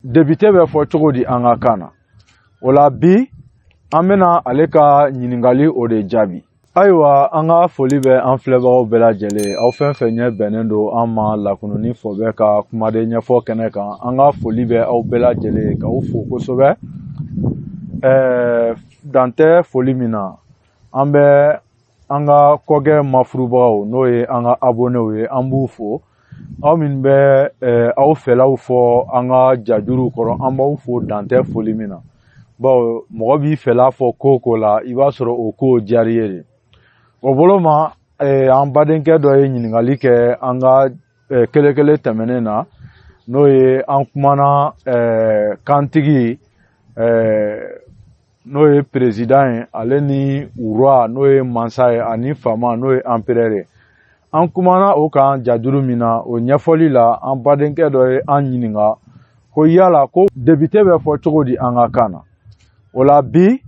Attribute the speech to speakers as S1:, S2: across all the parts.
S1: debite bɛ fɔ cogo di an ka kan na o la bi an bɛna ale ka ɲininkali o de jaabi ayiwa an ka foli bɛ an filɛbagaw bɛɛ lajɛlen aw fɛn fɛn ɲɛ bɛnnen don an ma lakununi fɔ bɛ ka kumaden ɲɛfɔ kɛnɛ kan an ka foli bɛ aw bɛɛ lajɛlen k'aw fo kosɛbɛ ɛɛ dan tɛ foli min na an bɛ an ka kɔkɛ mafurubagaw n'o ye an ka abonɛw ye an b'u fo aw min bɛ eh, aw fɛlaw fɔ an ka jajuruw kɔrɔ an b'aw fo dan tɛ foli min na bawo mɔgɔ b'i fɛla fɔ ko o ko la i b'a sɔrɔ o ko diyara i ye de o bolo ma eh, an badenkɛ dɔ ye ɲininkali kɛ an ka eh, kelekele tɛmɛnen na n'o ye an kumana kantigi n'o ye perezidan ye ale ni roi n'o ye mansa ye ani faama n'o ye anperɛr ye an kumana o kan jajuru min na o ɲɛfɔli la an badenkɛ dɔ ye an ɲininka ko yala ko debite bɛ fɔ cogo di an ka kan na o la bi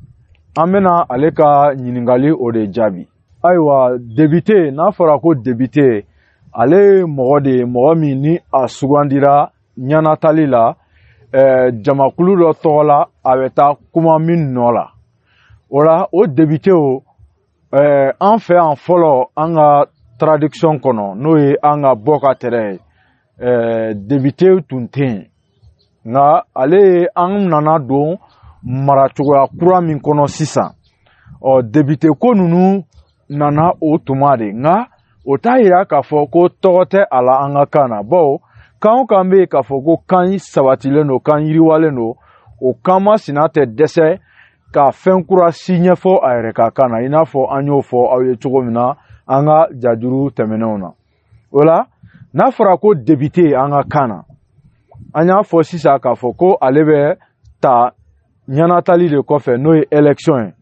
S1: an bɛna ale ka ɲininkali o de jaabi ayiwa debite n'a fɔra ko debite ale ye mɔgɔ de ye mɔgɔ min ni a sugandira ɲanatali la eh, jamakulu dɔ tɔgɔ la a bɛ taa kuma min nɔ la o la o debitew eh, an fɛ yan fɔlɔ an ka tradition kɔnɔ n'o ye an ka bɔ ka tɛrɛ ye eh, debite tun tɛ yen nka ale ye an nana don maracogoya kura min kɔnɔ sisan ɔ debite ko ninnu nana o tuma de nka o t'a yira k'a fɔ ko tɔgɔ tɛ a la an ka kan na bawo kan o kan bɛ yen k'a fɔ ko kan sabatilen don kan yiriwalen don o kan masina tɛ dɛsɛ ka fɛn kura si ɲɛfɔ a yɛrɛ ka kan na i n'a fɔ an y'o fɔ aw ye cogo min na an ka jajuru tɛmɛnenw na o la n'a fɔra ko debite an ka kan na an y'a fɔ sisan k'a fɔ ko ale bɛ ta ɲanatali de kɔfɛ n'o ye election ye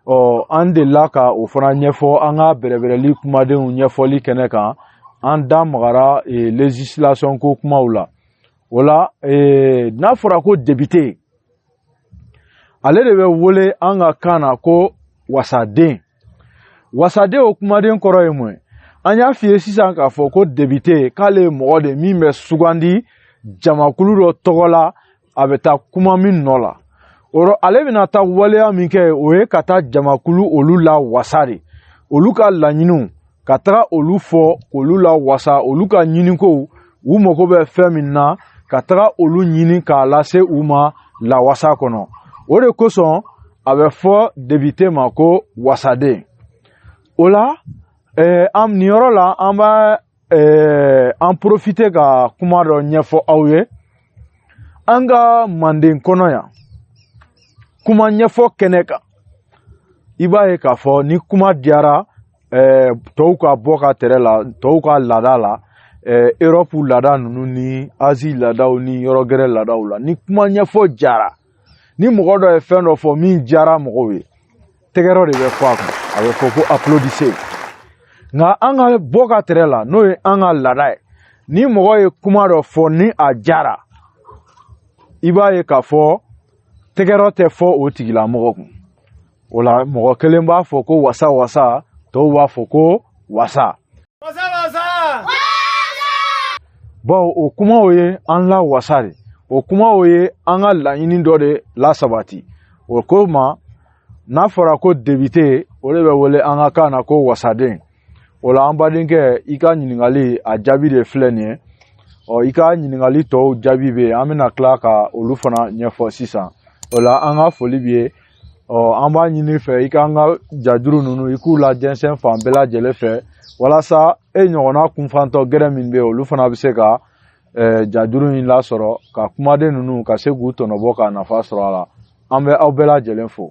S1: ɔ an delila ka o fana ɲɛfɔ an ka bɛrɛbɛrɛli kumadenw ɲɛfɔli kɛnɛ kan an da magara e, legislation ko kumaw la o la e, n'a fɔra ko debite ale de bɛ wele an ka kan na ko wasaden wasaden o kumaden kɔrɔ ye mun ye an y'a f'i ye sisan k'a fɔ ko debite k'ale ye mɔgɔ de min bɛ sugandi jamakulu dɔ tɔgɔ la a bɛ taa kuma min nɔ la o ale bɛna taa waleya min kɛ o ye ka taa jamakulu olu lawasa de olu ka laɲiniw ka taga olu fɔ k'olu lawasa olu ka ɲinikow u mago bɛ fɛn min na ka taga olu ɲini k'a lase u ma lawasa kɔnɔ o de kosɔn a bɛ fɔ debite ma ko wasaden o la eh, an nin yɔrɔ la an b'a eh, an porofite ka kuma dɔ ɲɛfɔ aw ye an ka manden kɔnɔ yan kuma ɲɛfɔ kɛnɛ kan i b'a ye k'a fɔ ni kuma diyara ɛɛ tɔw ka bɔ ka tɛrɛ la tɔw ka laada la ɛɛ erɔpu laada ninnu ni azi laadaw ni yɔrɔ gɛrɛ laadaw la ni kuma ɲɛfɔ diyara ni mɔgɔ dɔ ye fɛn dɔ fɔ min diyara mɔgɔw ye tɛgɛrɛ de bɛ fɔ a kan a bɛ fɔ ko apulodise nka an ka bɔ ka tɛrɛ la n'o ye an ka laada ye ni mɔgɔ ye kuma dɔ fɔ ni a diyara i b'a ye k'a fɔ tɛgɛrɛ tɛ fɔ o tigilamɔgɔ kun o la mɔgɔ kelen b'a fɔ ko wasa wasa tɔw b'a fɔ ko wasa wasa wasa bawo o kumaw ye an lawasa de o kumaw ye an ka laɲini dɔ de lasabati o ko ma n'a fɔra ko debite o de bɛ wele an ka kan na ko wasaden o la an badenkɛ i ka ɲininkali a jaabi de filɛ nin ye ɔ i ka ɲininkali tɔw jaabi bɛ yen an bɛna tila ka olu fana ɲɛfɔ sisan o la an ka foli b'i ye ɔ an b'a ɲini i fɛ i k'an ka jajuru ninnu i k'u lajɛnsɛn fan bɛɛ lajɛlen fɛ walasa e ɲɔgɔnna kunfantɔ gɛrɛ min bɛ yen olu fana bɛ se ka eh, jajuru in lasɔrɔ ka kumaden ninnu ka se k'u tɔnɔbɔ ka nafa sɔrɔ a la an bɛ aw bɛɛ lajɛlen fo